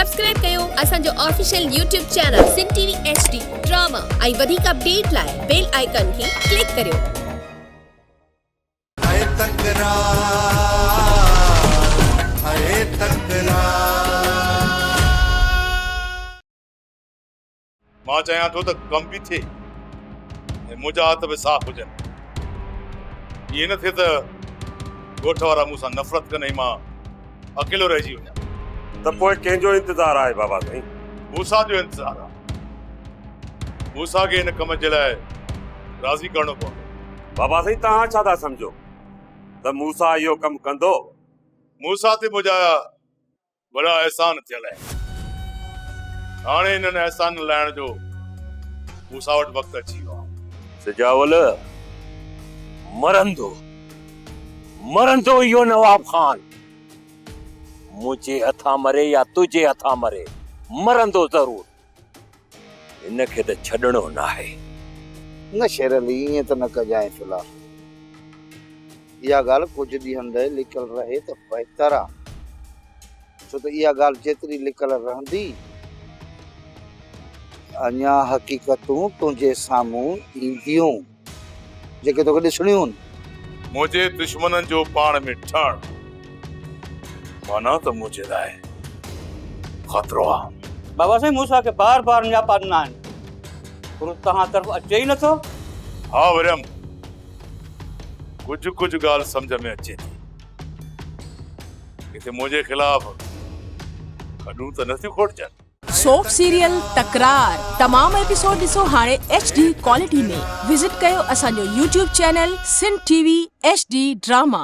Subscribe ڪيو اسان جو official YouTube channel Sindh T V H D drama ۽ وڌيڪ اپڊيٽ لاء بيل آئيڪان کي ڪلڪ ڪريو. هيء تڪرار هيء تڪرار. مان چاهيان ٿو ته ڪم به ٿئي ۽ منهنجا هٿ به صاف هجن. ائين نه ٿئي ته ڳوٺ وارا مون سان نفرت ڪن ۽ مان اڪيلو رهجي وڃان. ته پوء ڪنهن جو انتظار آهي بابا سائين؟ موسيٰ جو انتظار آهي. موسيٰ کي ان ڪم جي لاء راضي ڪرڻو پوندو. بابا سائين توهان ڇا ٿا سمجهو ته موسيٰ اهو ڪم ڪندو؟ موسيٰ تي منهنجا وڏا احسان ٿيل آهن. هاڻي انهن احسانن لاهڻ جو مون سان وٽ وقت اچي ويو آهي. سجاول، مرندو، مرندو اهو نواب خان، منهنجي هٿان مري يا تنهنجي هٿان مري، مرندو ضرور. هن کي ته ڇڏڻو ناهي. نه شير علي ائين ته نه ڪجانء ٿلها. اها ڳالهه ڪجهه ڏينهن لئه لڪل رهي ته بهتر آ. ڇو ته اها ڳالهه جيتري لڪل رهندي اڃا حقيقتون تنهنجي سامهون اينديون. جيڪي توکي ڏسڻيون هن. منهنجي دشمنن جو پاڻ ۾ ٺهڻ معنيٰ ته منهنجي لاء خطرو آهي. بابا سائين موسيٰ کي بار بار نياپا ڏنا آهن پر هو توهان طرف اچي ئي نٿو. ها وريم ڪجهه ڪجهه ڳالهه سمجهه ۾ اچي ٿي. ڪٿي منهنجي خلاف کڏون ته نه ٿيون کوٽجن. سوپ سيريل تڪرار تمام ايپيسوڊ ڏسو هاڻي ايڇ ڊي ڪوالٽي ۾ وزٽ ڪيو اسان جو YouTube channel Sindh T V H D drama.